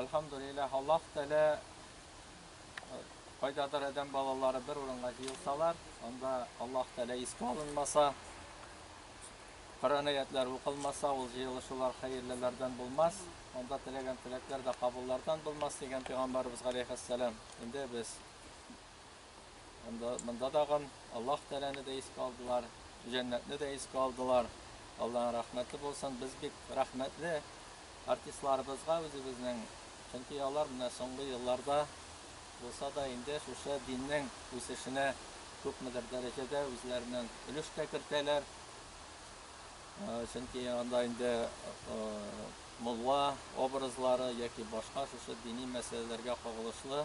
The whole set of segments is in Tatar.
Әлхәмдүлилләһ, Аллаһ Тәгалә кайдадыр адәм балалары бер урынга җыелсалар, анда Аллаһ Тәгалә искә алынмаса, Коръән аятлары укылмаса, ул җыелышулар хәерлеләрдән булмас, анда теләгән теләкләр дә кабуллардан булмас дигән пәйгамбәрбез галәйһиссәлам. Инде без Монда, монда тагын Аллаһ Тәләне дә искә алдылар, җәннәтне дә искә алдылар. Аллаһның рәхмәте булсын, без бик рәхмәтле артистларыбызга үзебезнең. Чөнки алар менә соңгы елларда булса да инде шушы диннең үсешенә күпмедер дәрәҗәдә үзләреннән өлеш тә кертәләр. Чөнки анда инде мулла образлары яки башка шушы дини мәсьәләләргә кагылышлы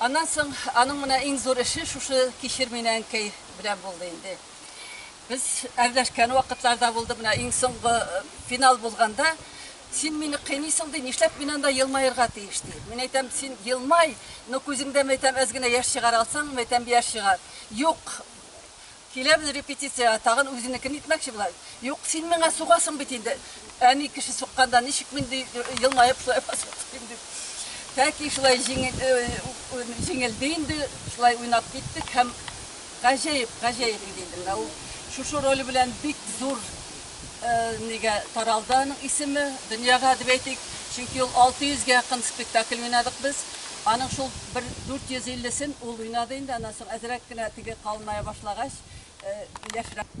Аннан соң аның менә иң зур эше шушы кишер мина әнкәй белән булды инде. Без әрләшкән вакытларда булды, менә иң соңгы э, финал булганда, син мине кыйныйсың ди, нишләп мин анда елмаерга тиеш ди. Мин әйтәм, син елмай, но күзеңдә мәйтәм әз генә яшь чыгар алсаң, мәйтәм яшь чыгар. Юк, Киләбез репетициягә, тагын үзенекен итмәкче була. Юк, син миңа сугасың бит инде. Әни кеше сукканда ничек мин ди елмаеп шулай басыйм дип. Тәки шулай җиңелде инде, шулай уйнап киттек һәм гаҗәеп, гаҗәеп иде инде менә ул. Шушы роль белән бик зур Нигә таралды аның исеме дөньяга дип әйтик, чөнки ул 600 гә якын спектакль уйнадык без. Аның шул бер 450 сен ул уйнады инде, аннан соң әзрәк кенә теге калыная башлагач, яшьрәк.